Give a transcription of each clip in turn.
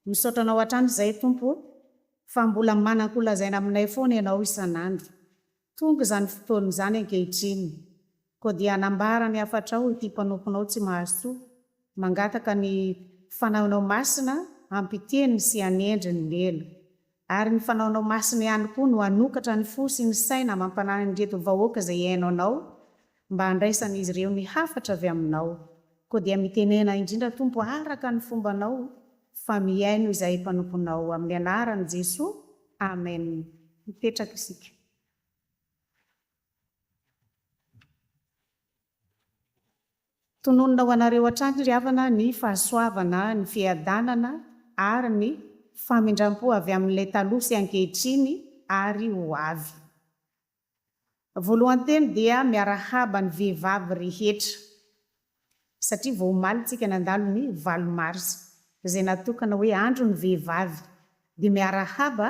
Misaotra anao hatrany izay Tompo fa mbola mananko lazaina aminay foana ianao isan'andro. Tonga izany fotoana izany ankehitriny. Koa dia hanambara ny hafatrao ity mpanomponao tsy mahazo ity, mangataka ny fanaonao masina hampiteny sy hanendry ny lela. Ary ny fanaonao masina ihany koa no hanokatra ny fo sy ny saina amam-panahin' ireto vahoaka izay hihaino anao, mba handraisan'izy ireo ny hafatra avy aminao. Koa dia mitenena indrindra Tompo araka ny fombanao, fa mihaino izahay mpanomponao, amin'ny anaran'i Jesoa, amena. Mipetraka isika. Tononina ho anareo hatrany ry havana ny fahasoavana, ny fiadanana ary ny famindram-po avy amin'ilay taloha sy ankehitriny ary ho avy. Voalohan-teny dia miarahaba ny vehivavy rehetra. satria vao omaly tsika nandalo ny valo marsa izay natokana hoe andro ny vehivavy dia miarahaba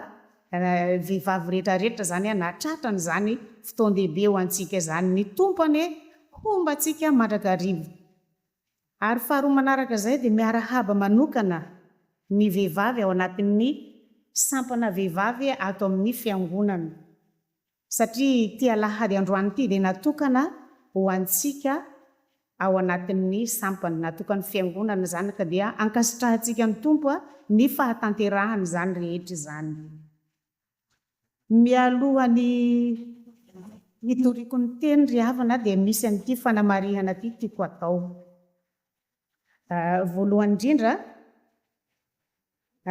vehivavy rehetra rehetra izany na tratra ny zany fotoan-dehibe ho antsika izany ny Tompo anie homba antsika mandrakariva ary faharoa manaraka izay dia miarahaba manokana ny vehivavy ao anatin'ny sampana vehivavy ato amin'ny fiangonana. Satria ity alahady androany ity dia natokana ho antsika ao anatin'ny sampany natokan'ny Fiangonana izany ka dia ankasitrahantsika ny Tompo ny fahatanterahana izany rehetra izany. Mialoha ny hitoriako ny teny ry havana dia misy an'ity fanamarihana ity tiako hatao. Voalohany indrindra,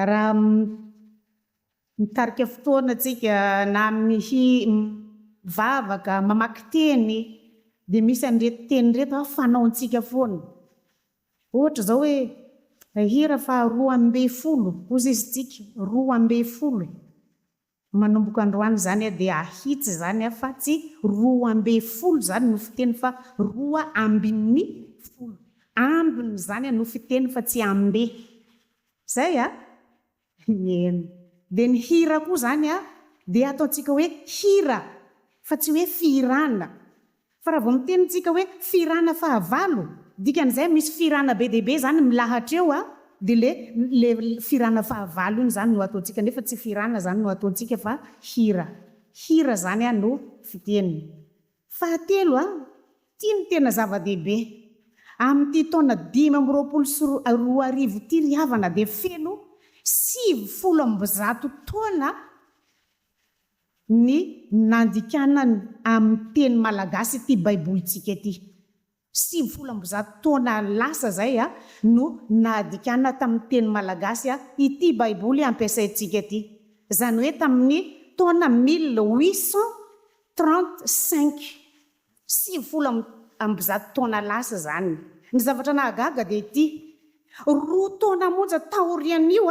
Raha mitarika fotoana tsika na mihi mivavaka, mamaky teny dia misy an'ireto teny ireto a fanaontsika foana. Ohatra izao hoe hira faharoa ambin'ny folo, hoy sisa tsika, roa ambin'ny folo e. Manomboka androany izany aho dia ahitsy izany aho fa tsy roa amby folo izany no fiteny fa roa ambin'ny folo ambiny izany no fiteny fa tsy amby. Izay a! Mieno. Dia ny hira koa izany a dia ataontsika hoe hira fa tsy hoe fihirana Fa raha vao miteny tsika hoe firana fahavalo, dikan'izay misy firana be dia be izany milahatra eo a, dia le le firana fahavalo iny izany no ataontsika, nefa tsy firana izany no ataontsika fa hira, hira izany a no fiteny. Fahatelo a, ity no tena zava-dehibe, amin'ity taona dimy amby roapolo sy roa arivo ity ry havana dia feno sivy folo amby zato taona, ny nandikanany amin'ny teny malagasy ity baibolintsika ity. Sivifolo amby zato taona lasa izay no nadikana tamin'ny teny malagasy ity baiboly ampiasaintsika ity, izany hoe tamin'ny taona mille huit cent trente cinq, sivifolo amby zato taona lasa izany. Ny zavatra nahagaga dia ity, roa taona monja taorian'io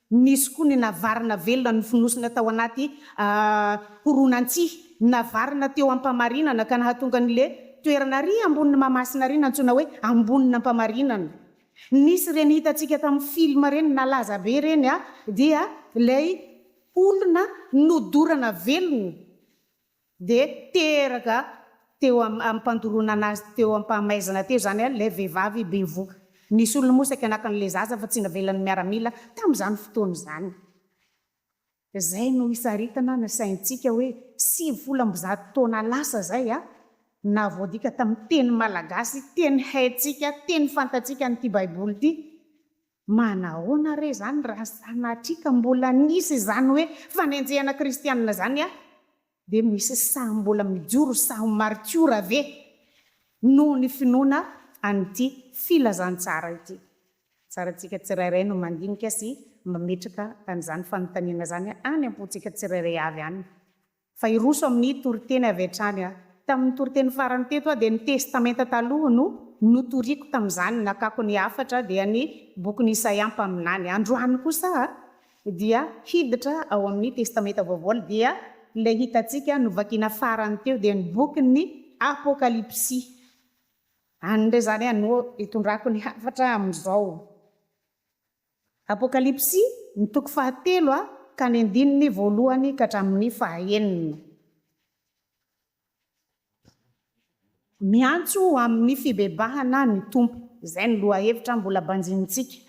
Nisy koa ny navarina velona nofonosina tao anaty horonantsihy navarina teo Ampamarinana ka nahatonga ny le toerana ary ambonin'i Mahamasina ary nantsoina hoe Ambonin'Ampamarinana. Nisy ireny hitantsika tamin'ny film ireny nalaza be ireny dia ilay olona nodorana velona. dia teraka teo am ampandoronana azy teo ampahamaizana teo izany an ilay vehivavy bevoka. Ny solony moa saika naka an'ilay zaza fa tsy navelan'ny miaramila tamin'izany fotoana izany. Izay no hisaritana ny saintsika hoe sivy folo amby zato taona lasa izay an, na voadika tamin'ny teny malagasy, teny haintsika, teny fantatsika an'ity baiboly ity, Manahoana re izany raha sanatria ka mbola nisy izany hoe fanenjehana kristianina izany an? Dia misy sahy mbola mijoro sahy ho maritiora ve noho ny finoana an'ity filazantsara ity? Tsara antsika tsirairay no mandinika sy mametraka an'izany fanontaniana izany any am-pontsika tsirairay avy any. fa hiroso amin'ny toriteny avy hatrany aho. Tamin'ny toriteny farany teto aho dia ny Testamenta Taloha no notoriako tamin'izany, nakako ny hafatra dia ny bokin'i Isaia mpaminany. Androany kosa aho dia hiditra ao amin'ny Testamenta Vaovao dia ilay hitantsika novakiana farany teo dia ny bokin'ny Apokalypsy. Any indray izany aho no hitondrako ny hafatra amin'izao. Apokalypsy, ny toko fahatelo ka ny andininy voalohany ka hatramin'ny fahaenina. Miantso ho amin'ny fibebahana ny Tompo. Izay no lohahevitra mbola banjinintsika.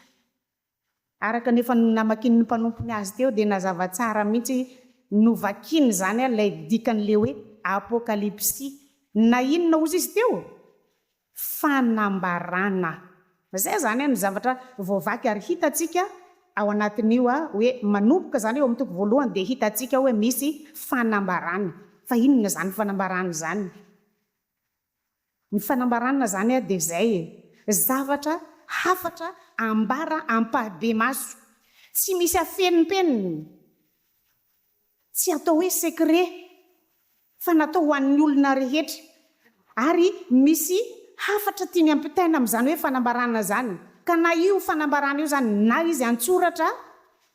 Araka ny efa namakian'ny mpanompony azy teo dia nazava tsara mihitsy novakiny izany ilay dikan'ilay hoe Apokalypsy. Na inona ozy izy teo? fanambarana. Izay izany no zavatra voavaky ary hitantsika ao anatin'io hoe manomboka izany eo amin'ny toko voalohany dia hitantsika hoe misy fanambarana. Fa inona izany fanambarana izany? Ny fanambarana izany dia izay e! zavatra, hafatra ambara ampahibemaso, tsy misy afenimpeniny. Tsy atao hoe secret fa natao ho an'ny olona rehetra ary misy hafatra tiany ampitaina amin'izany hoe fanambarana izany ka na io fanambarana io izany na izy an-tsoratra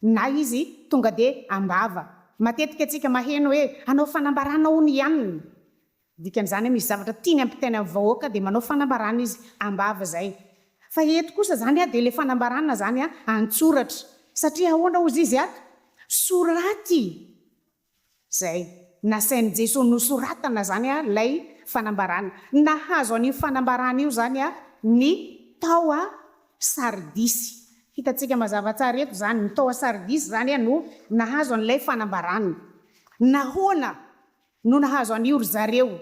na izy tonga dia am-bava. Matetika antsika maheno hoe hanao fanambarana hono i anona Ny dikan'izany hoe misy zavatra tiany hampitaina amin'ny vahoaka dia manao fanambarana izy am-bava izay. Fa eto kosa izany dia ilay fanambarana izany an-tsoratra. Satria ahoana hozy izy ato? Soraty izay. Nasain'i Jesoa nosoratana izany ilay fanambarana. Nahazo an'io fanambarana io izany ny tao Sardisy. Hitantsika mazava tsara eto izany. Ny tao Sardisy izany no nahazo an'ilay fanambarana. Nahoana No nahazo an'io ry zareo.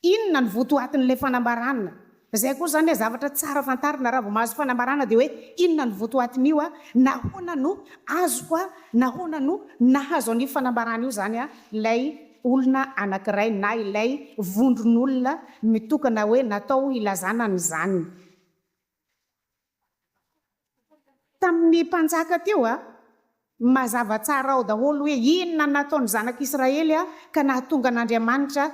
Inona no votoatin'ilay fanambarana? Izay koa izany ilay zavatra tsara fantarina raha vao mahazo fanambarana dia hoe inona no votoatin'io a? Nahoana no azoko a? Nahoana no nahazo an'io fanambarana io izany a? Ilay olona anankiray na ilay vondron'olona mitokana hoe natao hilazana an'izany. Tamin'ny mpanjaka teo, mazava tsara ao daholo hoe inona no nataon'ny zanak'i Israely ka nahatonga an'Andriamanitra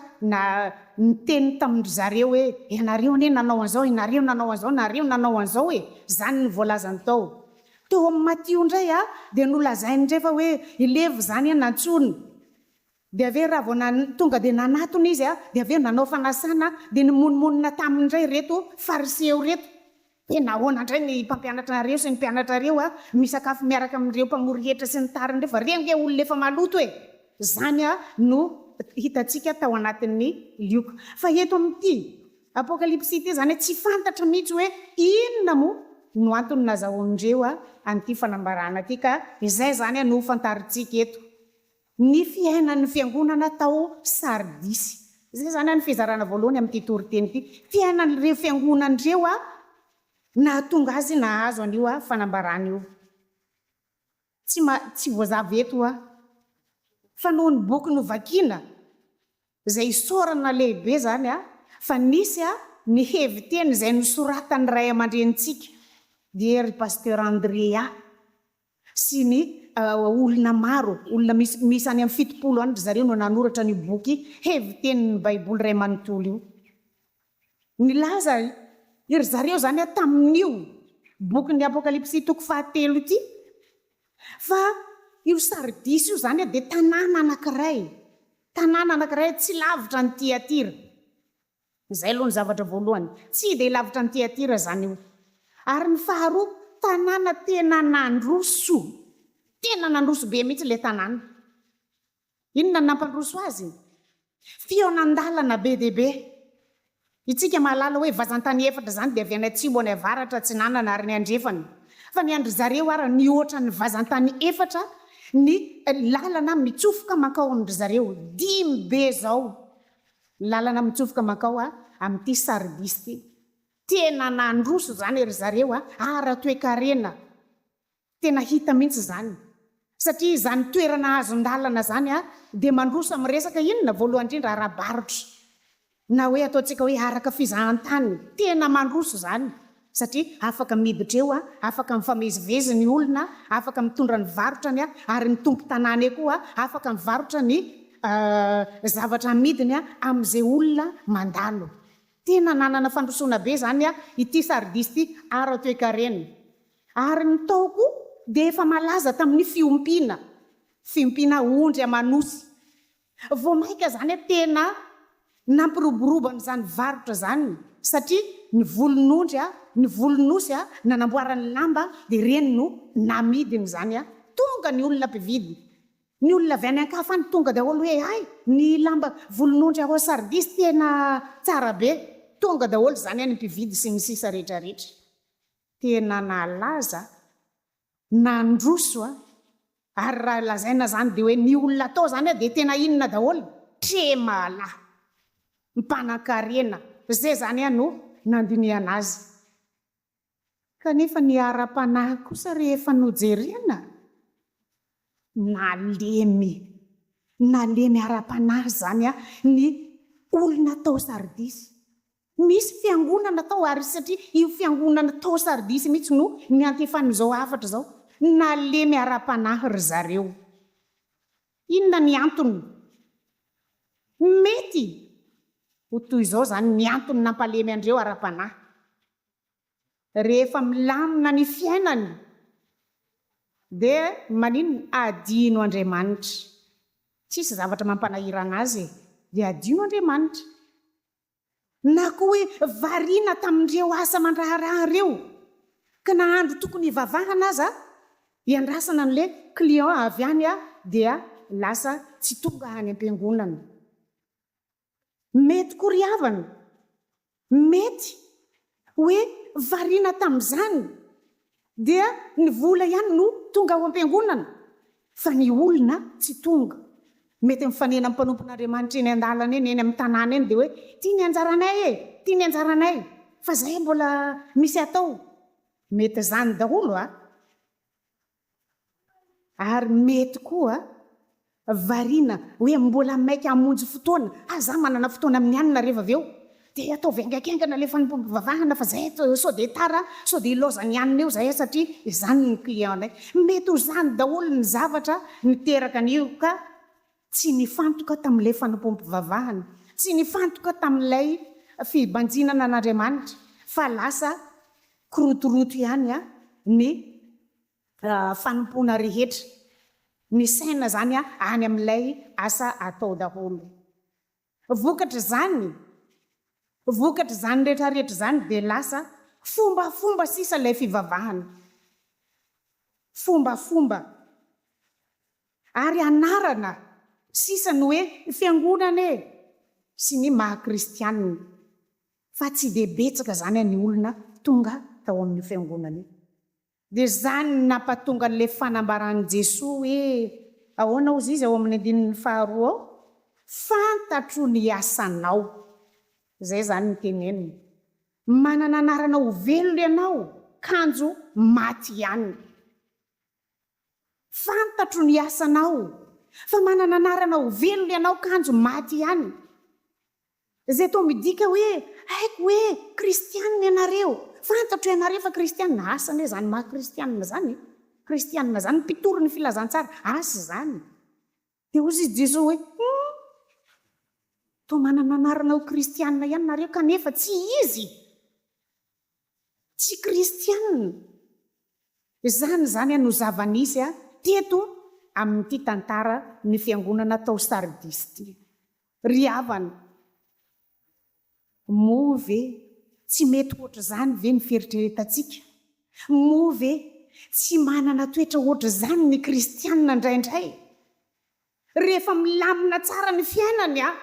niteny tamin-dry zareo hoe, Ianareo anie nanao an'izao, ianareo nanao an'izao, ianareo nanao an'izao e! Izany no voalazany tao. Teo amin'ny Matio indray dia nolazainy indray fa hoe i Levy izany nantsoina. Dia avy eo raha vao nan, tonga dia nanatona izy a, dia avy eo nanao fanasana a, dia nimonomonona taminy indray ireto Fariseo ireto, Dia nahoana indray ny mpampianatra anareo sy ny mpianatrareo a, misakafo miaraka amin'ireo mpamory hetra sy ny tariny ireo, fa ireo ange olona efa maloto e! Izany a no hitantsika tao anatin'ny Lioka. Fa eto amin'ity Apokalypsy ity izany a, tsy fantatra mihitsy hoe inona moa no antony nazahoan'ireo a an'ity fanambarana ity, ka izay izany a no hofantarintsika eto Ny fiainan'ny fiangonana tao Sardisy. Izay izany ny fizarana voalohany amin'ity toriteny ity. Fiainan'ireo fiangonana ireo nahatonga azy nahazo an'io fanambarana io. Tsy tsy voazava eto fa noho ny boky novakina izay isaorana lehibe izany fa nisy ny heviteny izay nosoratan'ny ray aman-drenintsika dia ry Pasteur Andrea sy ny olona maro, olona miisa any amin'ny fitopolo any, ry zareo no nanoratra an'io boky hevitenin'ny Baiboly iray manontolo io. Nilaza i ry zareo izany tamin'io bokin'ny Apokalypsy toko fahatelo ity fa io Sardisy io izany dia tanàna anankiray, tanàna anankiray tsy lavitra an'i Tyatira. Izay aloha ny zavatra voalohany. Tsy dia lavitra an'i Tyatira izany io. Ary ny faharoa, tanàna tena nandroso. Tena nandroso be mihitsy ilay tanàna. Inona no nampandroso azy? Fihaonan-dalana be dia be. Isika mahalala hoe vazan-tany efatra izany dia avy any atsimo, any avaratra, atsinanana ary ny andrefana. Fa ny an-dry zareo ary nihoatra ny vazan-tany efatra ny lalana mitsofoka mankao amin-dry zareo. Dimy be izao. Ny lalana mitsofoka mankao amin'ity Sardis ity. Tena nandroso izany ry zareo ara-toekarena. Tena hita mihitsy izany. Satria izany toerana azon-dalana izany dia mandroso amin'ny resaka inona? Voalohany indrindra ara-barotra. Na hoe ataontsika hoe araka fizahantany. Tena mandroso izany. satria afaka miditra eo, afaka mifamezivezy ny olona, afaka mitondra ny varotrany ary ny tompon-tanàna eo koa afaka mivarotra ny zavatra amidiny amin'izay olona mandalo. Tena nanana fandrosoana be izany ity Sardis ity ara-toekarena. Ary ny tao koa dia efa malaza tamin'ny fiompiana, fiompiana ondry aman'osy. Vao mainka izany hoe tena nampiroborobo an'izany varotra izany satria ny volon'ondry, ny volon'osy nanamboarany lamba dia ireny no namidiny izany. Tonga ny olona mpividy, ny olona avy any an-kafa any tonga daholo hoe hay ny lamba volon'ondry ao Sardis tena tsara be. Tonga daholo izany ny mpividy sy ny sisa rehetra rehetra. Tena nalaza Nandroso a! Ary raha lazaina zany de hoe ny olona atao zany a de tena inona daholo? Tremala! Mpanankarena! Ze zany a no nandinihana azy. Kanefa ny ara-panahy kosa rehefa nojerena? Nalemy! Nalemy ara-panahy zany a ny olona tao Sardisy. Nisy fiangonana tao ary satria io fiangonana tao Sardisy mihitsy no niantefan'izao hafatra izao, nalemy ara-panahy ry zareo. Inona ny antony? Mety ho toy izao izany ny antony nampalemy an-dreo ara-panahy, Rehefa milamina ny fiainany dia maninona? Adino Andriamanitra. Tsisy zavatra mampanahiran'azy e, dia adino Andriamanitra. Na koa hoe variana tamin'ireo asa aman-draharaha ireo, ka na andro tokony hivavahana aza hiandrasana an'ilay client avy any aho dia lasa tsy tonga any am-piangonana. Mety koa ry havana, mety hoe variana tamin'izany dia ny vola ihany no tonga ao am-piangonana fa ny olona tsy tonga. Mety mifanena amin'ny mpanompon'Andriamanitra eny an-dalana eny, eny amin'ny tanàna eny dia hoe ity ny anjaranay e, ity ny anjaranay fa izay mbola misy atao. Mety izany daholo a! Ary mety koa variana hoe mbola maika hamonjy fotoana, aza manana fotoana mianina rehefa avy eo dia ataovy haingakaingana ilay fanompoam-pivavahana fa izay sao dia tara, sao dia hilaoza ny hanina eo izahay satria izany ny client-nay. Mety ho izany daholo ny zavatra miteraka an'io ka. Tsy nifantoka tamin'ilay fanompoam-pivavahana, tsy nifantoka tamin'ilay fibanjinana an'Andriamanitra, fa lasa kirotoroto ihany ny fanompoana rehetra. Misaina izany any amin'ilay asa atao daholo. Vokatr'izany, vokatr'izany rehetrarehetra izany dia lasa fombafomba sisa ilay fivavahana. Fombafomba ary anarana sisa ny hoe fiangonana e! sy ny maha kristianina, fa tsy dia betsaka izany ny olona tonga tao amin'io fiangonana io. Dia izany no nampatonga an'ilay fanambaran'i Jesoa hoe, ahoana hozy izy ao amin'ny andininy faharoa ao, fantatro ny asanao. Izay izany no teneniny. Manana anarana ho velona ianao, kanjo maty ihany. Fantatro ny asanao, fa manana anarana ho velona ianao, kanjo maty ihany. Izay toa midika hoe, Haiko hoe kristiana ianareo. Fantatro ianareo fa kristiana. Asa anie izany maha kristiana izany e! Kristiana izany mpitory ny filazantsara. Asa izany. Dia hoy i Jesoa hoe, Humm! Toa manana anarana ho kristiana ihany nareo kanefa tsy izy. Tsy kristianina. Izany izany a no zava-nisy a teto amin'ity tantara ny fiangonana tao Sardis ity. Ry havana, moa ve tsy mety hoatr'izany ve ny fieritreretantsika? Moa ve tsy manana toetra hoatr'izany ny kristianina indraindray? Rehefa milamina tsara ny fiainany an!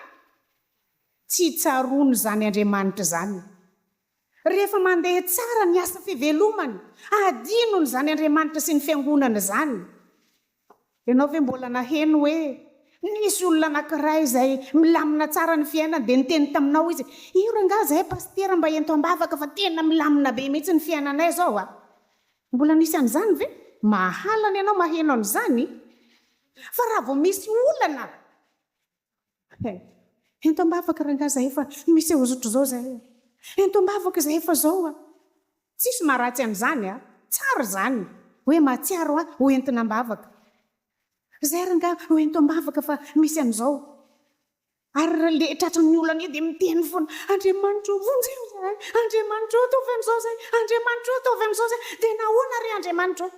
Tsy tsaroany izany Andriamanitra izany. Rehefa mandeha tsara ny asa fivelomany, adinony izany Andriamanitra sy ny Fiangonana izany. Ianao ve mbola naheno hoe nisy olona anankiray izay milamina tsara ny fiainany dia niteny taminao izy, Io rangahy izay pasitera mba ento am-bavaka fa tena milamina be mihitsy ny fiainanay izao an! Mbola nisy an'izany ve? Mahalana ianao maheno an'izany. Fa raha vao misy olana eh! Ento ambavaka rangahy zahay fa misy hozotra zao zahay eh! Ento ambavaka zahay fa zao ah! Tsisy maharatsy an'izany ah! Tsara zany hoe mahatsiaro ah! Ho entina ambavaka zahay rangahy oh! Ento ambavaka fa misy an'izao. Ary raha ndeha tratran'ny olana eo dia miteny foana, Andriamanitra ô, vonjeo izahay, Andriamanitra ô, ataovy amin'izao izay, Andriamanitra ô, ataovy amin'izao izay, dia nahoana re Andriamanitra ô?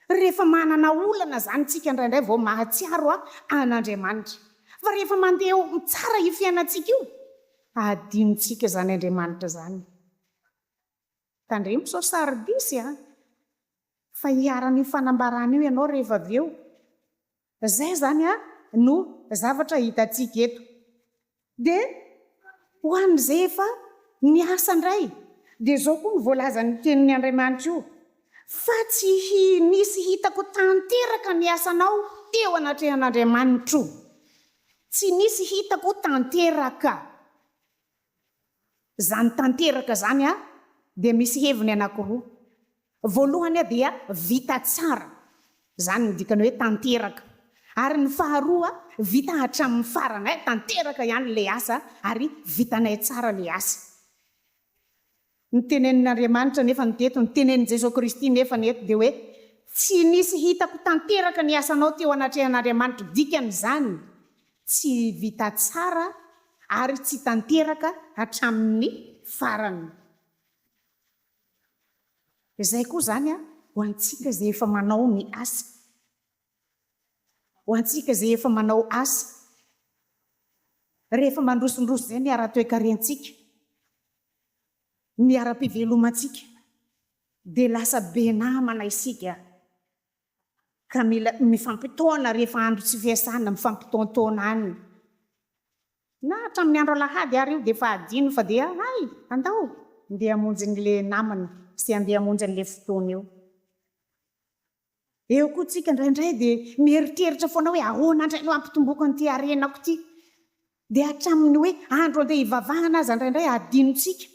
Rehefa manana olana izany isika indraindray vao mahatsiaro an'Andriamanitra. Fa rehefa mandeha eo tsara io fiainantsika io, adinontsika izany Andriamanitra izany. Tandremo sao Sardisy an! Fa hiharan'io fanambarana io ianao rehefa avy eo. Izay izany no zavatra hitantsika eto. Dia ho an'izay efa niasa indray, dia izao koa no voalazan'ny Tenin'ny Andriamanitra io, Fa tsy nisy hitako tanteraka ny asanao teo anatrehan'Andriamanitro. Tsy nisy hitako tanteraka. Izany tanteraka izany dia misy heviny anankiroa. Voalohany dia vita tsara, izany no dikany hoe tanteraka. Ary ny faharoa, vita hatramin'ny farany, tanteraka ihany ilay asa ary vitanay tsara ilay asa. Ny tenenin' Andriamanitra nefa no teto, ny tenenin' Jesoa Kristy nefa no eto dia hoe, Tsy nisy hitako tanteraka ny asanao teo anatrehan' Andriamanitra. Dikan' izany, tsy vita tsara ary tsy tanteraka hatramin' ny farany. Izay koa izany ho antsika izay efa manao ny asa. Ho antsika izay efa manao asa. Rehefa mandrosondroso izay ny ara-toekarentsika. ny ara-pivelomantsika dia lasa be namana isika ka mila mifampitaona rehefa andro tsy fiasana, mifampitaontaona any na hatramin'ny andro alahady ary io dia efa adino fa dia hay andao ndeha hamonjy an'ilay namana sy andeha hamonjy an'ilay fotoana io. Eo koa tsika indraindray dia mieritreritra foana hoe ahoana indray no hampitomboako an'ity harenako ity. Dia hatramin'ny hoe andro handeha hivavahana aza indraindray adinontsika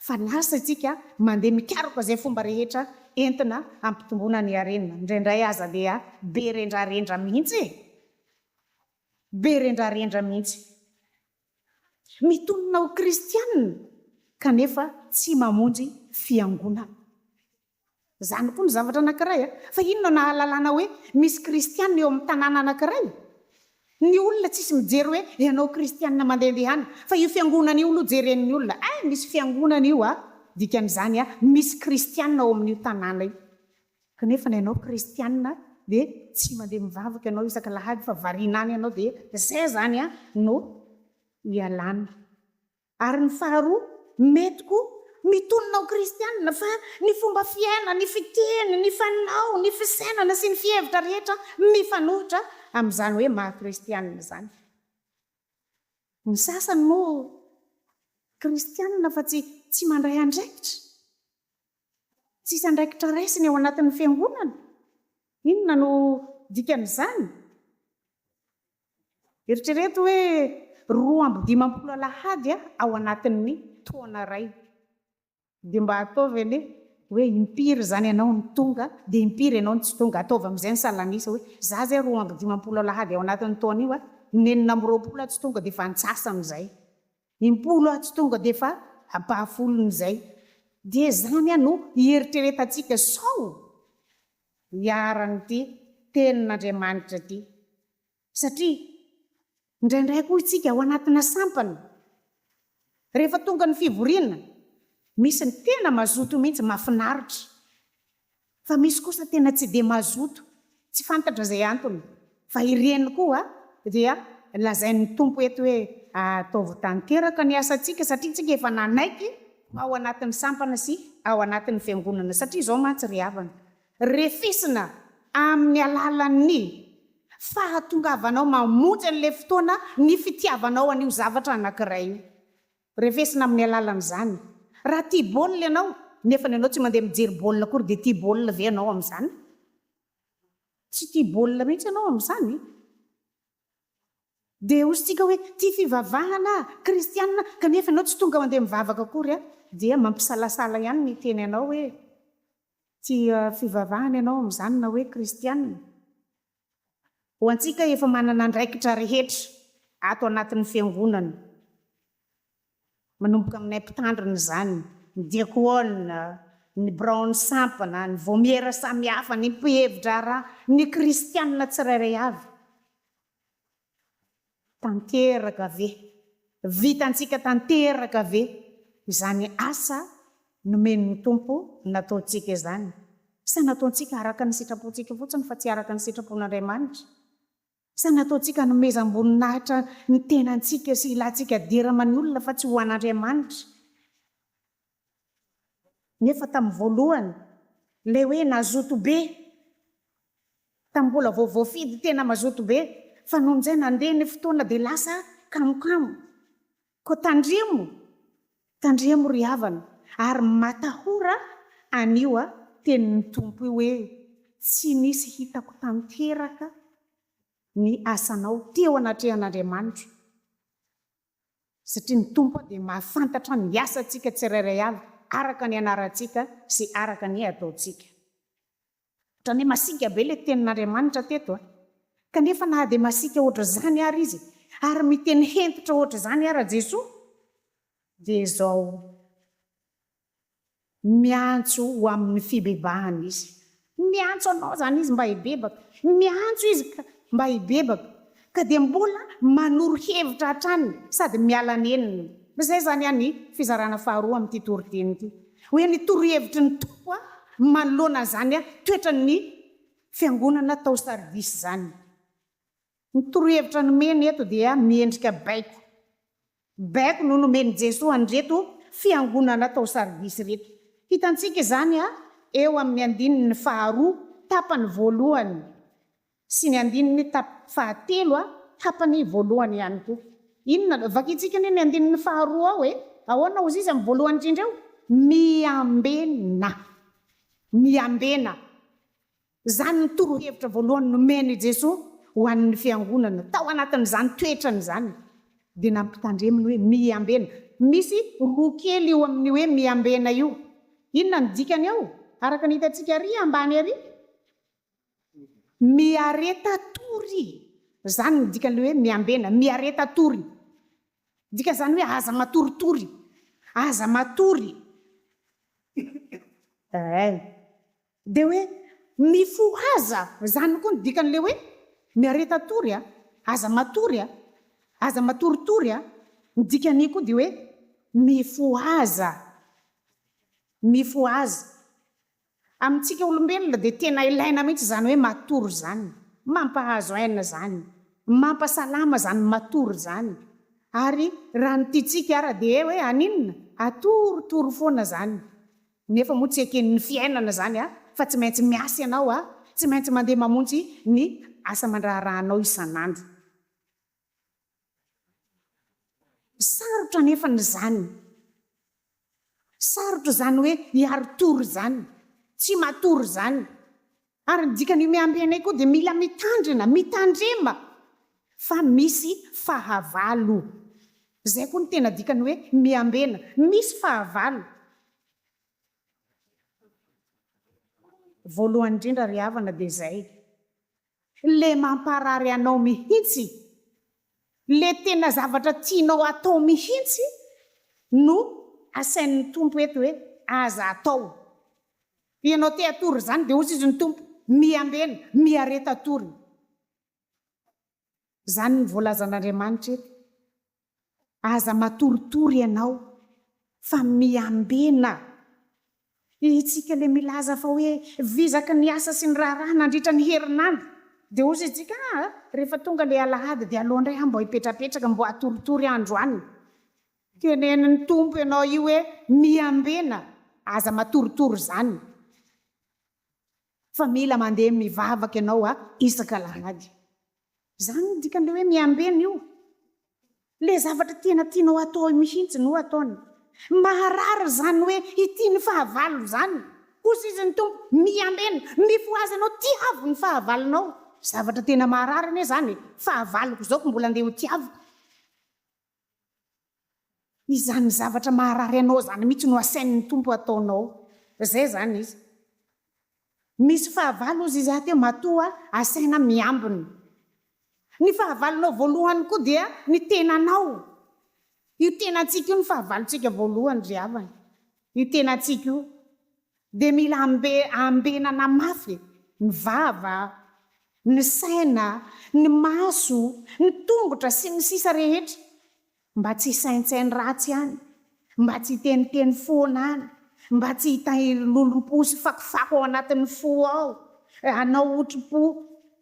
fa lasa isika mandeha mikaroka izay fomba rehetra entina hampitomboana ny harena. Indraindray aza dia be rendrarendra mihitsy e! Be rendrarendra mihitsy. Mitonona ho kristianina kanefa tsy mamonjy fiangonana. Izany koa ny zavatra anankiray, fa inona no ahalalana hoe misy kristiana eo amin'ny tanàna anankiray? Ny olona tsisy mijery hoe ianao kristiana mandehandeha any, fa io fiangonana io aloha jeren'ny olona, eh, misy fiangonana io a, dikan'izany a, misy kristiana ao amin'io tanàna io. Kanefa na ianao kristiana dia tsy mandeha mivavaka ianao isaka alahady fa variana any ianao dia izay izany a no ialana. Ary ny faharoa, mety koa, mitonona ho kristiana, fa ny fomba fiaina, ny fiteny, ny fanao, ny fisainana sy ny fihevitra rehetra mifanohitra amin'izany hoe maha kristiana izany. Ny sasany moa kristiana fa tsy tsy mandray andraikitra. Tsisy andraikitra raisiny ao anatin'ny fiangonana. Inona no dikan'izany? Eritrereto hoe roa amby dimampolo alahady ao anatin'ny taona iray. Dia mba ataovy anie hoe impiry izany ianao no tonga dia impiry ianao no tsy tonga. Ataovy amin'izay ny salan'isa hoe izaho izay roa amby dimampolo alahady ao anatin'ny taona io, ny enina amby roapolo aho tsy tonga dia efa antsasan'izay. Impolo aho tsy tonga dia efa ampahafolon'izay. Dia izany no hieritreretantsika sao. iharan'ity Tenin'Andriamanitra ity, satria indraindray koa isika ao anatina sampana, rehefa tonga ny fivoriana, misy ny tena mazoto mihitsy, mahafinaritra, fa misy kosa tena tsy dia mazoto, tsy fantatra izay antony. Fa ireny koa dia lazain'ny Tompo eto hoe, Ataovy tanteraka ny asantsika, satria isika efa nanaiky ao anatin'ny sampana sy ao anatin'ny fiangonana, satria izao mantsy ry havana, refesina amin'ny alalan'ny fahatongavanao mamonjy an'ilay fotoana ny fitiavanao an'io zavatra anankiray io. Refesina amin'ny alalan'izany. Raha tia baolina ianao, nefany ianao tsy mandeha mijery baolina akory, dia tia baolina ve ianao amin'izany? Tsy tia baolina mihitsy ianao amin'izany e! Dia hosintsika hoe tia fivavahana aho, kristianina, kanefa ianao tsy tonga mandeha mivavaka akory an! Dia mampisalasala ihany ny teny anao hoe tia fivavahana ianao amin'izany na hoe kristianina. Ho antsika efa manana andraikitra rehetra ato anatin'ny Fiangonana. Manomboka aminay mpitandrina izany, ny diakona, ny biraon'ny sampana, ny vaomiera samihafa, ny mpihevi-draharaha, ny kristiana tsirairay avy. Tanteraka ve? Vitantsika tanteraka ve izany asa nomen'ny Tompo nataontsika izany? Sa nataontsika araka ny sitrapontsika fotsiny fa tsy araka ny sitrapon'Andriamanitra? Sa nataontsika hanomezam-boninahitra ny tenantsika sy ilantsika dera aman'olona fa tsy ho an'Andriamanitra? Nefa tamin'ny voalohany, ilay hoe nazoto be, tamin'ny mbola vao voafidy tena mazoto be, fa nony izay nandeha ny fotoana dia lasa kamokamo. Koa tandremo, tandremo ry havana, ary matahora an'io tenin'ny Tompo io hoe, Tsy nisy hitako tanteraka ny asanao teo anatrehan'Andriamanitra, satria ny Tompo dia mahafantatra ny asantsika tsirairay avy araka ny anarantsika sy araka ny ataontsika. Otrany hoe masiaka be le tenin'Andriamanitra teto a! Kanefa na dia masiaka ohatr'izany ary Izy, ary miteny hentitra ohatr'izany ara Jesoa, dia izao, Miantso ho amin'ny fibebahana Izy. Miantso anao izany Izy mba hibebaka. Miantso Izy ka mba hibebaka. Ka dia mbola manoro hevitra hatrany sady miala nenina. Izay izany any fizarana faharoa amin'ity toriteny ity. Hoe ny torohevitry ny Tompo manoloana an'izany toetran'ny Fiangonana tao Sardisy izany. Ny torohevitra nomeny eto dia miendrika baiko. Baiko no nomen'i Jesoa an'ireto fiangonana tao Sardisy ireto. Hitantsika izany eo amin'ny andininy faharoa tapany voalohany sy ny andininy tap fahatelo tapany voalohany ihany koa. Inona no vakintsika anie ny andininy faharoa ao e? Ahoana hozy izy amin'ny voalohany indrindra eo? Miambena. Miambena. Izany no torohevitra voalohany nomen' i Jesoa ho an' ny Fiangonana. Tao anatin' izany toetrany izany dia nampitandreminy hoe, Miambena. Misy roa kely io amin' ny hoe miambena io. Inona no dikany ao? Araka ny hitantsika ary ambany ary, miareta tory. Izany no dikan' ilay hoe miambena, miareta tory. Dikan' izany hoe aza matoritory, aza matory. Ee. Dia hoe, Mifohaza! Izany koa no dikan'ilay hoe, Miareta-tory a! Aza matory a! Aza matoritory a! Ny dikan'io koa dia hoe, Mifohaza! Mifohaza! Amintsika olombelona dia tena ilaina mihitsy izany hoe matory izany. Mampahazo aina izany. Mampasalama izany matory izany. Ary raha ny tiantsika ara dia hoe haninona? Hatoritory foana izany. Nefa moa tsy eken'ny fiainana izany a! Fa tsy maintsy miasa ianao a! Tsy maintsy mandeha mamonjy ny asa aman-draharahanao isan'andro. Sarotra anefa izany. Sarotra izany hoe hiari-tory izany. Tsy matory izany. Ary ny dikan'io miampy anay koa dia mila mitandrina, mitandrema fa misy fahavalo. Izay koa no tena dikan'ny hoe miambena, misy fahavalo. Voalohany indrindra ry havana dia izay le mamparary anao mihitsy, le tena zavatra tianao hatao mihitsy no asain'ny Tompo eto hoe aza atao. Ianao te hatory izany dia hozy izy ny Tompo, miambena, miareta atory. Izany no voalazan'Andriamanitra eto. Aza matoritory ianao fa miambena. Isika ilay milaza fa hoe vizaka ny asa sy ny raharaha nandritra ny herinandro. Dia hozy isika, ah, rehefa tonga ilay alahady dia aleo indray aho mba hipetrapetraka, mba hatoritory aho androany. Tenenin'ny Tompo ianao io hoe miambena. Aza matorotoro izany fa mila mandeha mivavaka ianao isaka alahady. Izany no dikan'ilay hoe miambena io. Ilay zavatra tena tianao hatao eo mihitsy no ataony. Maharary izany hoe hitia ny fahavalo izany. Hosizin'ny Tompo, miambena, mifohaza ianao, tiavo ny fahavalonao. Zavatra tena maharary anie izany e! Fahavaloko izao ko mbola andeha hotiaviko. Izany zavatra maharary anao izany mihitsy no asain'ny Tompo ataonao. Izay izany izy. Misy fahavalo hozy izy aty matoa asaina miambina. Ny fahavalonao voalohany koa dia ny tenanao. Io tenantsika io no fahavalontsika voalohany ry havana. Io tenantsika io. Dia mila ambe ambenana mafy ny vava, ny saina, ny maso, ny tongotra sy ny sisa rehetra mba tsy hisaintsaino ratsy any, mba tsy hiteniteny foana any, mba tsy hitahiry lolompo sy fakofako ao anatin'ny fo ao, hanao otripo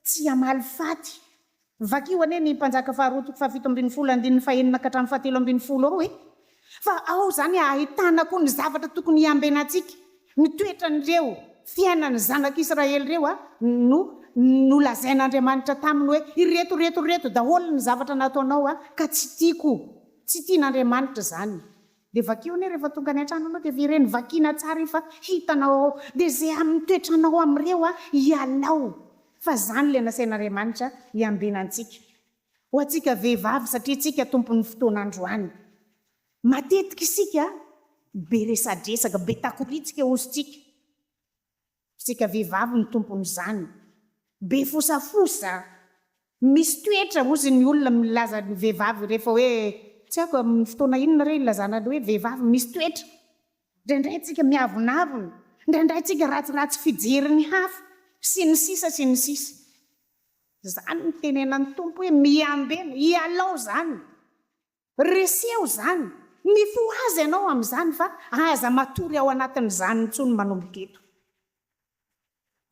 tsy hamaly faty Vakio anie ny Mpanjaka faharoa toko fahafito ambin'ny folo andininy fahenina ka hatramin'ny fahatelo ambin'ny folo ao e! Fa ao izany ahitana koa ny zavatra tokony hiambenantsika, ny toetran'ireo fiainan'ny zanak'i Israely ireo a! no nolazain'Andriamanitra taminy hoe ireto, ireto, ireto daholo ny zavatra nataonao a! ka tsy tiako, tsy tian'Andriamanitra izany. Dia vakio anie rehefa tonga any an-trano anao dia very eny vakiana tsara efa hitanao ao dia ze amin'ny toetranao amin'ireo a ialao fa zany le nasain'Ariamanitra hiambina antsika ho antsika vehivavy satria tsika tompon'ny fotoana androany matetika isika be resadresaka be takoritsika ozontsika Isika vehivavy no tompon'izany. Be fosafosa. Misy toetra hozy ny olona milaza ny vehivavy rehefa hoe, tsy haiko amin'ny fotoana inona re ilazana ny hoe vehivavy misy toetra. Indraindray tsika miavonavona, indraindray tsika ratsiratsy fijerin'ny hafa, sy ny sisa sy ny sisa. Izany no tenenan'ny Tompo hoe miambena, ialao izany. Reseho izany, mifohaza ianao amin'izany fa aza matory ao anatin'izany intsony manomboka eto.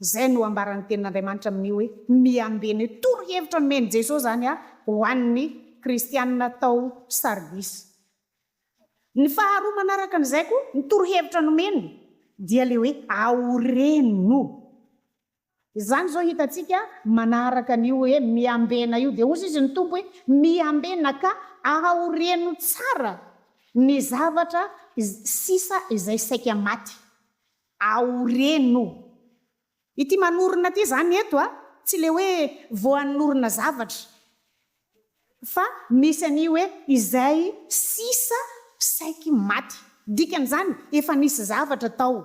Izay no ambaran'ny Tenin'Andriamanitra amin'ny hoe miambena io. Torohevitra nomen'i Jesoa izany ho an'ny kristianina tao Sardisy. Ny faharoa manaraka an'izay koa, ny torohevitra nomeny dia ilay hoe aoreno. Izany izao hitantsika manaraka an'io hoe miambena io, dia hozy izy ny Tompo hoe, Miambena ka aho reno tsara ny zavatra sisa izay saika maty. Aho reno. Ity manorina ity izany eto a, tsy ilay hoe vao hanorina zavatra. Fa misy an'io hoe izay sisa saiky maty. Dikan'izany, efa nisy zavatra tao.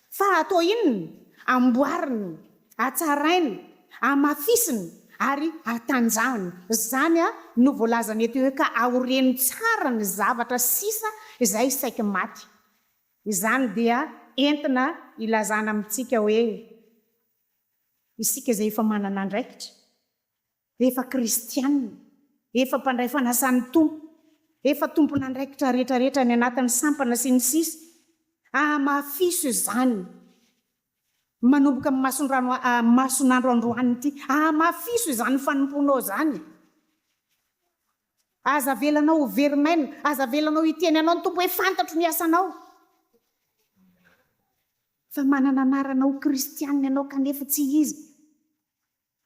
Fa atao inona? Amboarina, atsaraina, amafisina ary atanjahana. Izany no voalazany eto hoe ka aoreno tsara ny zavatra sisa izay saiky maty. Izany dia entina ilazana amintsika hoe isika izay efa manana andraikitra. Efa kristiana, efa mpandray fanasan'ny Tompo, efa tompon'andraikitra rehetrarehetra any anatin'ny sampana sy ny sisa Hamafiso izany manomboka amin'ny mason-drano mason'andro androany ity. Hamafiso izany fanompoanao izany. Aza avelanao ho very maina. Aza avelanao hiteny anao ny Tompo hoe fantatro ny asanao. Fa manana anarana ho kristiana ianao kanefa tsy Izy.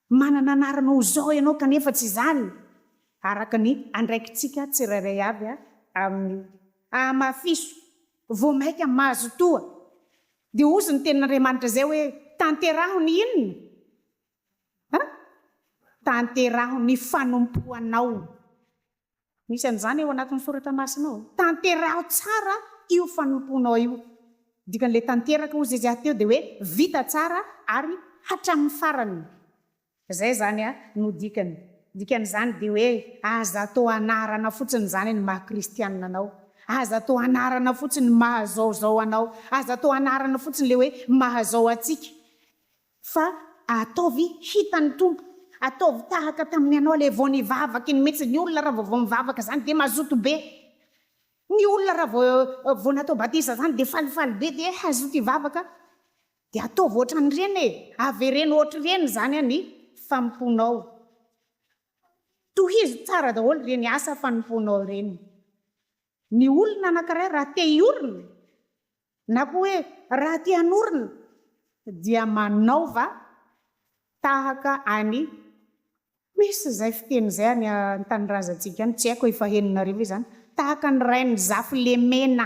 Manana anarana ho zao ianao kanefa tsy izany, araka ny andraikitsika tsirairay avy amin'io. Ahamafiso, vao maika mazotoa, dia hozy ny Tenin'Andriamanitra izay hoe, Tanteraho ny inona? An? Tanteraho ny fanompoanao. Misy an'izany ao anatin'ny soratra masina ao. Tanteraho tsara io fanompoanao io. Dikan'ilay tanteraka hozy izy teo dia hoe vita tsara ary hatramin'ny farany. Izay izany no dikany. Dikan'izany dia hoe aza atao anarana fotsiny izany ny maha kristianina anao. Aza atao anarana fotsiny ny maha zao zao anao. Aza atao anarana fotsiny ilay hoe maha zao antsika. Fa ataovy hitan'ny Tompo. Ataovy tahaka tamin'ny anao le vao nivavaka iny mintsy, ny olona raha vao vao mivavaka zany de mazoto be. Ny olona raha vao vao natao batisa zany de falifaly be de hazoto hivavaka. De ataovy ohatran'ireny e, avereno ohatr'ireny zany an ny fanompoanao. Tohizo tsara daholo ireny asa fanompoanao ireny. Ny olona anankiray raha te hiorina na koa hoe raha te hanorina dia manaova tahaka an'i Misy izay fiteny izay any an-tanindrazantsika any, tsy haiko efa henonareo ve izany, tahaka an'i Rainizafilemena.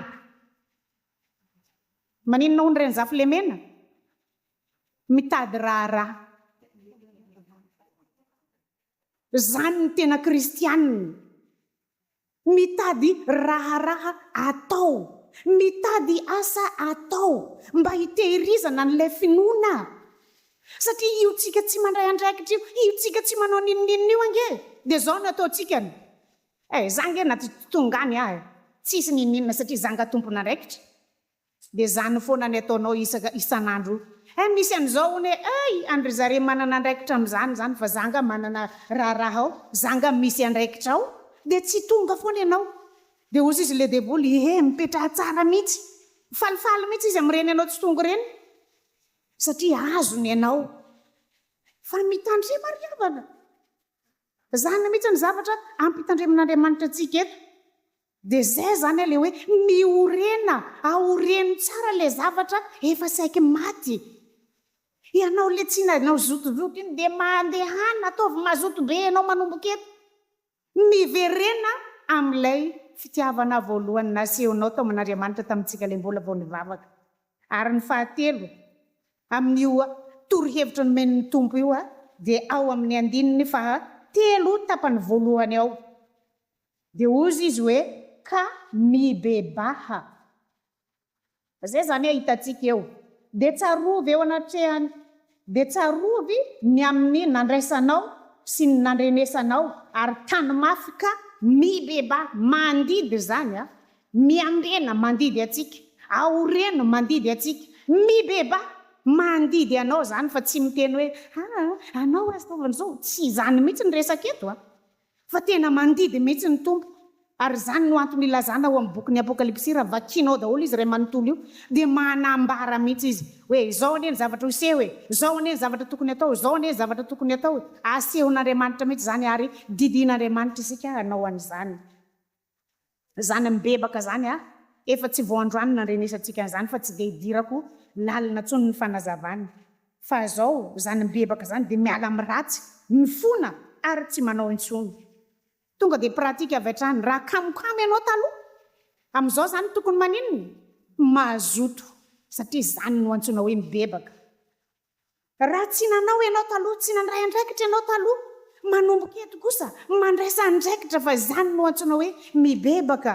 Maninona hono Rainizafilemena? Mitady raharaha. Izany ny tena kristianina. Mitady raharaha atao, mitady asa atao mba hitehirizana an'ilay finoana. Satria io tsika tsy mandray andraikitra io, io tsika tsy manao n'inon'inona io ange dia izao no ataontsika ny, eh, za ange na tsy tonga any aho eh, tsisy n'inon'inona satria za nga tompon'andraikitra. Tsy dia zany foana ny ataonao isaka isan'andro io. Hein misy an'izao hono e ay any ry zareo manana andraikitra amin'izany izany fa za nga manana raharaha ao za nga misy andraikitra ao dia tsy tonga foana ianao dia hozy izy le deboly ehe mipetraha tsara mihitsy falifaly mihitsy izy amin'ireny anao tsy tonga ireny satria azony ianao fa mitandrema ry havana. Zany mihitsy ny zavatra ampitandreman'Andriamanitra antsika eto. Dia zay zany ilay hoe miorena, aoreno tsara ilay zavatra efa saiky maty. Ianao ilay tsy nanao zotozoto iny dia mandehana, ataovy mazoto be ianao manomboka eto. Miverena amin'ilay fitiavana voalohany nasehonao tao amin'Andriamanitra tamintsika ilay mbola vao nivavaka. Ary ny fahatelo, amin'io torohevitra nomen'ny Tompo io dia ao amin'ny andininy faha telo tapany voalohany ao. Dia hozy izy hoe, Ka mibebaha. Izay izany a hitantsika eo. Dia tsarovy eo anatrehany, dia tsarovy ny amin'ny nandraisanao sy ny nandrenesanao, ary tano mafy ka mibebaha. Mandidy izany a. Miambena mandidy antsika. Aoreno mandidy antsika. Mibebaha. Mandidy anao izany fa tsy miteny hoe, aa, anao aza ataovy an'izao. Tsy izany mihitsy ny resaka eto a. Fa tena mandidy mihitsy ny Tompo, ary izany no antony ilazana ao amin'ny bokin'ny Apokalypsy, raha vakianao daholo izy iray manontolo io, dia manambara mihitsy izy hoe izao anie ny zavatra ho seho e, izao anie ny zavatra tokony hatao, izao anie ny zavatra tokony hatao e. Asehon'Andriamanitra mihitsy izany ary didihin'Andriamanitra isika hanao an'izany. Zany mibebaka zany a! Efa tsy vao androany nandrenesantsika an'izany fa tsy dia idirako lalina tsony ny fanazavany. Fa zao zany mibebaka zany dia miala amin'ny ratsy, mifona ary tsy manao intsony. Tonga dia pratique avy hatrany. Raha kamo kamo ianao taloha, amin'izao zany tokony maninona? Mazoto satria zany no antsoina hoe mibebaka. Raha tsy nanao ianao taloha, tsy nandray andraikitra ianao taloha, manomboka eto kosa mandraisa andraikitra fa izany no antsoina hoe mibebaka.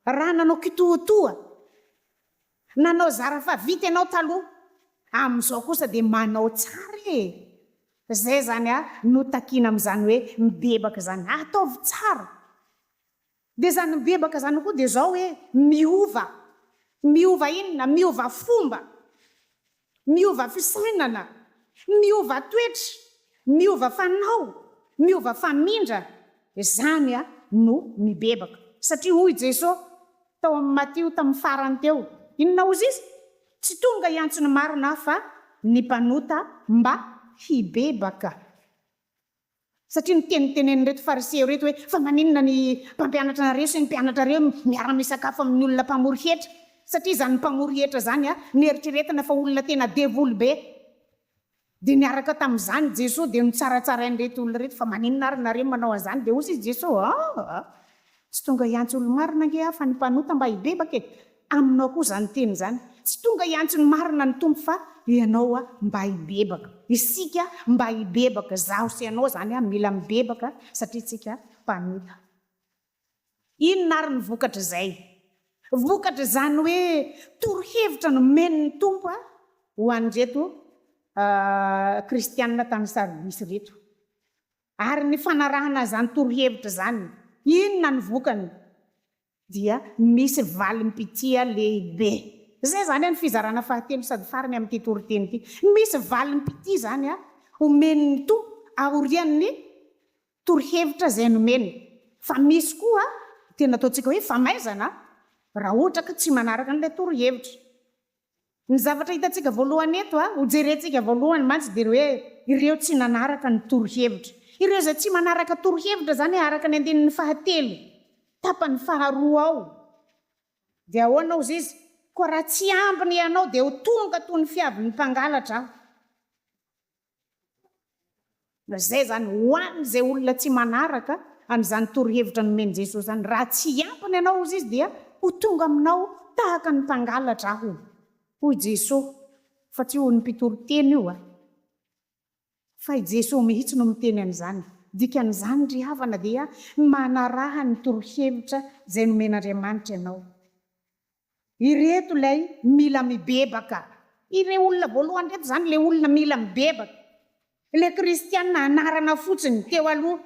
Raha nanao kitoatoa, nanao zara fa vita ianao taloha, amin'izao kosa dia manao tsara e! Izay izany no takiana amin'izany hoe mibebaka izany, ataovy tsara. Dia zany mibebaka zany koa dia zao hoe miova, miova inona? Miova fomba, miova fisainana, miova toetra, miova fanao, miova famindra, zany no mibebaka. Satria hoy Jeso tao amin'ny Matio tamin'ny farany teo, inona ozy izy? Tsy tonga hiantso ny marina aho fa ny mpanota mba hibebaka. Satria nitenitenenin'ireto Fariseo ireto hoe, Fa maninona ny mpampianatrareo sy ny mpianatrareo miara-misakafo amin'ny olona mpamory hetra? Satria izany mpamory hetra izany noeritreretina fa olona tena devoly be. Dia niaraka tamin'izany Jesoa dia notsaratsarain'ireto olona ireto, Fa maninona ary nareo manao an'izany? Dia hoy Jesoa, Aa! Tsy tonga hiantso olo-marina ange aho fa ny mpanota mba hibebaka e! Aminao koa izany teny izany. Tsy tonga hiantso ny marina ny Tompo fa ianao mba hibebaka. Isika mba hibebaka, izaho sy ianao izany mila mibebaka satria isika mpanota. Inona ary ny vokatr'izay? Vokatr'izany hoe torohevitra nomen'ny Tompo ho an'ireto Kristiana tany Sardisy ireto. Ary ny fanarahana izany torohevitra izany, inona ny vokany? Dia misy valim-pitia lehibe. Izay izany any fizarana fahatelo sady farany amin'ity toriteny ity. Misy valim-pitia izany omen'ny Tompo aorian'ny torohevitra izay nomeny. Fa misy koa tena ataontsika hoe famaizana raha ohatra ka tsy manaraka an'ilay torohevitra. Ny zavatra hitantsika voalohany eto, ho jerentsika voalohany mantsy dia ny hoe ireo tsy nanaraka ny torohevitra. Ireo izay tsy manaraka torohevitra izany araka ny andininy fahatelo, tapany faharoa ao. Dia ahoana hozy izy? Koa raha tsy ambiny hianao dia ho tonga toy ny fiavin'ny mpangalatra aho. Izay izany, ho an'izay olona tsy manaraka an'izany torohevitra nomen'i Jesosy izany, raha tsy hiampina ianao, hozy izy, dia ho tonga aminao tahaka ny mpangalatra aho, hoy i Jesosy, fa tsy hoy ny mpitoriteny io, fa i Jesosy mihitsy no miteny an'izany. Dikan'izany, ry havana, dia manaraha ny torohevitra izay nomen'Andriamanitra ianao. Ireto ilay mila mibebaka. Ireo olona voalohany ireto izany ilay olona mila mibebaka. Ilay kristiana anarana fotsiny teo aloha.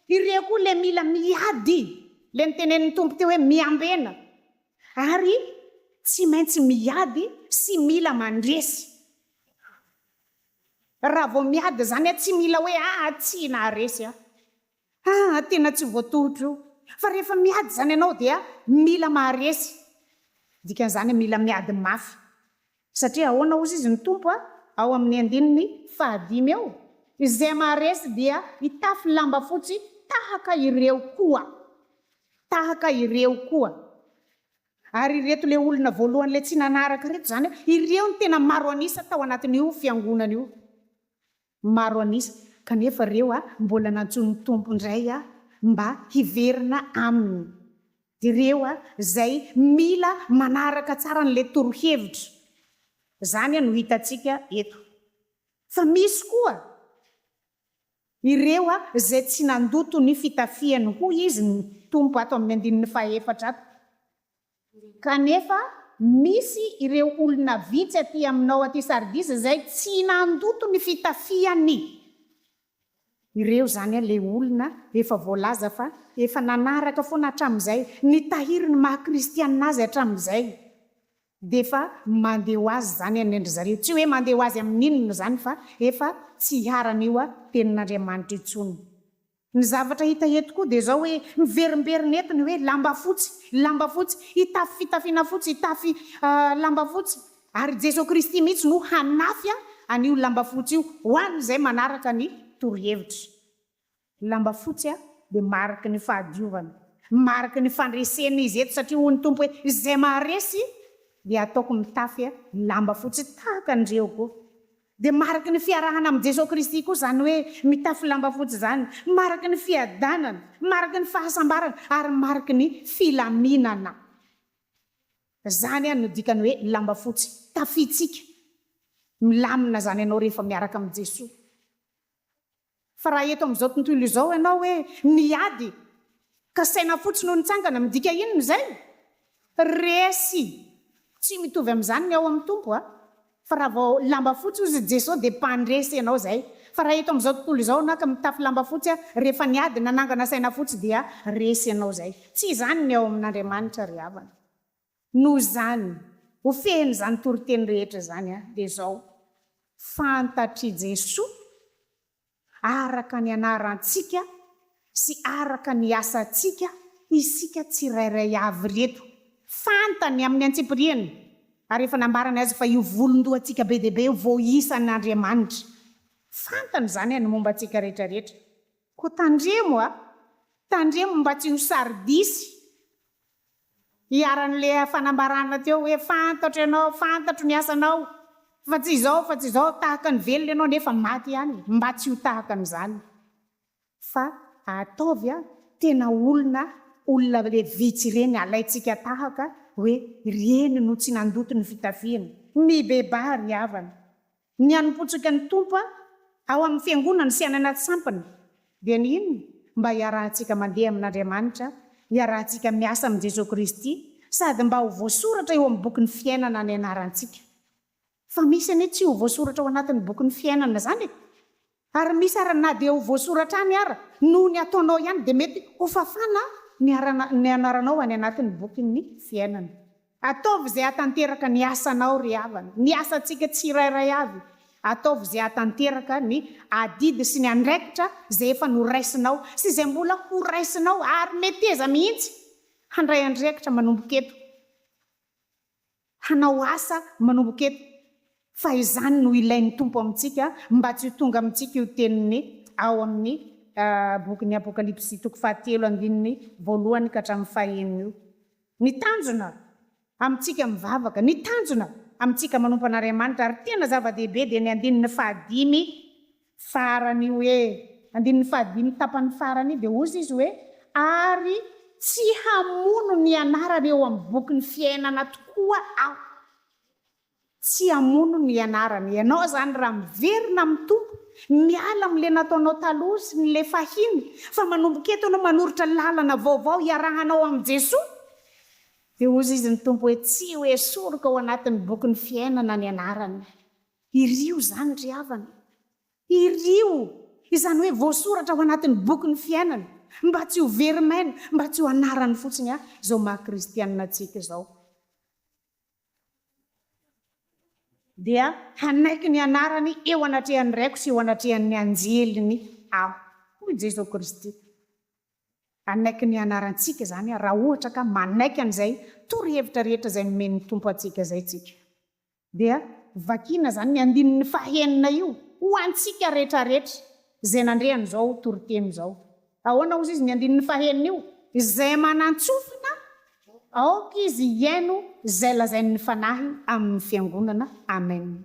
Ireo koa ilay mila miady, ilay notenenin'ny Tompo teo hoe miambena. Ary tsy maintsy miady sy mila mandresy. Raha vao miady izany, tsy mila hoe atsy na resy. Haa tena tsy voatohotro io fa rehefa miady zany ianao dia mila maharesy dikan'izany mila miady mafy satria ahoana ozy izy ny Tompo ao amin'ny andininy faha dimy eo izay maharesy dia hitafy lamba fotsy tahaka ireo koa tahaka ireo koa ary ireto le olona voalohany le tsy nanaraka reto zany ireo ny tena maro an'isa tao anatin'io fiangonana io Maro an'isa, kanefa ireo mbola nantsoin'ny Tompo indray mba hiverina Aminy. Ireo izay mila manaraka tsara an'ilay torohevitra izany no hitantsika eto. Fa misy koa ireo izay tsy nandoto ny fitafiany, hoy Izy ny Tompo ato amin'ny andininy fahaefatra ato. Kanefa, misy ireo olona vitsy aty aminao aty Sardis izay tsy nandoto ny fitafiany. Ireo izany ilay olona efa voalaza fa efa nanaraka foana hatramin'izay, nitahiry ny maha kristiana azy hatramin'izay. Dia efa mandeha ho azy izany any an-dry zareo. Tsy hoe mandeha ho azy amin'inona izany fa efa tsy hiharan'io tenin'Andriamanitra io intsony. Ny zavatra hita eto koa dia izao hoe miverimberina eto ny hoe lamba fotsy, lamba fotsy, hitafy fitafiana fotsy, hitafy lamba fotsy. Ary i Jesoa Kristy mihitsy no hanafy an'io lamba fotsy io ho an'izay manaraka ny torohevitra. Ny lamba fotsy dia mariky ny fahadiovana, mariky ny fandresena izy eto satria hoy ny Tompo hoe izay maharesy dia hataoko mitafy lamba fotsy tahaka an'ireo koa. Dia mariky ny fiarahana amin'i Jesoa Kristy koa izany hoe mitafy lamba fotsy izany, mariky ny fiadanana, mariky ny fahasambarana ary mariky ny filaminana. Izany no dikany hoe lamba fotsy, tafitsika. Milamina izany ianao rehefa miaraka amin'i Jesoa. Fa raha eto amin'izao tontolo izao ianao hoe niady ka saina fotsy no nitsangana, midika inona izay? Resy! Tsy mitovy amin'izany ny ao amin'ny Tompo a! Fa raha vao lamba fotsy hozy i Jeso dia mpandresy ianao izay. Fa raha eto amin'izao tontolo izao ianao ka mitafy lamba fotsy a, rehefa niady, nanangana saina fotsy dia resy ianao izay. Tsy izany ny ao amin'Andriamanitra ry havana. Noho izany, ho fehin'izany toriteny rehetra izany dia izao, Fantatr'i Jesoa araka ny anarantsika sy araka ny asantsika isika tsirairay avy ireto. Fantany amin'ny antsipiriany ary efa nambarany azy fa io volon-dohantsika be dia be io vao isan'Andriamanitra. Fantany izany ny momba antsika rehetrarehetra. Koa tandremo a! Tandremo mba tsy ho sary-disy. Iharan'le fanambarana teo hoe fantatro ianao, fantatro ny asanao, fa tsy izao, fa tsy izao, tahaka ny velona ianao nefa maty ihany e, mba tsy ho tahaka an'izany fa ataovy a, tena olona, olona le vitsy ireny alaintsika tahaka hoe ireny no tsy nandoto ny fitafiany, mibebaha ry havana. Ny hanompoantsika ny Tompo ao amin'ny Fiangonana sy any anaty sampana dia ny inona? Mba hiarahantsika mandeha amin'Andriamanitra, hiarahantsika miasa amin'i Jesoa Kristy sady mba ho voasoratra eo amin'ny bokin'ny fiainana ny anarantsika. Fa misy anie tsy ho voasoratra ao anatin'ny bokin'ny fiainana izany e! Ary misy ara na dia ho voasoratra any ara noho ny ataonao ihany dia mety ho fafana ny ara ny anaranao any anatin'ny bokin'ny fiainana. Ataovy izay hahatanteraka ny asanao ry havana, ny asantsika tsirairay avy, ataovy izay hahatanteraka ny adidy sy ny andraikitra izay efa noraisinao sy izay mbola ho raisinao ary meteza mihitsy handray andraikitra manomboka eto. hanao asa manomboka eto, fa izany no ilain'ny Tompo amintsika mba tsy ho tonga amintsika io teniny ao amin'ny bokin'ny Apokalypsy toko fahatelo andininy voalohany ka hatramin'ny fahenina io. Ny tanjona amintsika mivavaka, ny tanjona amintsika manompo an'Ariamanitra ary tena zava-dehibe dia ny andininy fahadimy Farany hoe. Andininy fahadimy tapany farany dia hozy izy hoe, Ary tsy hamono ny anarany eo amin'ny bokin'ny fiainana tokoa aho. Tsy hamono ny anarany. Ianao izany raha miverina amin'ny Tompo, miala amin'ilay nataonao taloha sy ny le fahiny, fa manomboka eto ianao manoritra lalana vaovao hiarahanao amin'i Jesoa, dia hozy izy ny Tompo hoe, Tsy ho esoriko ao anatin'ny bokin'ny fiainana ny anarany. Hirio izany ry havana. Hirio! Izany hoe voasoratra ao anatin'ny bokin'ny fiainana, mba tsy ho very maina, mba tsy ho anarany fotsiny an, izao maha kristianina antsika izao. Dia hanaiky ny anarany eo anatrehan'ny Raiko sy eo anatrehan'ny anjeliny Aho, hoy Jeso Kristy. Hanaiky ny anarantsika izany raha ohatra ka manaiky an'izay torohevitra rehetra izay nomen'ny Tompo antsika izay tsika. Dia vakiana izany ny andininy fahenina io ho antsika rehetrarehetra izay nandre an'izao toriteny izao. Ahoana hozy izy ny andininy fahenina io? Izay manan-tsofina, aoka izy hihaino izay lazain'ny Fanahy amin'ny fiangonana. Amen.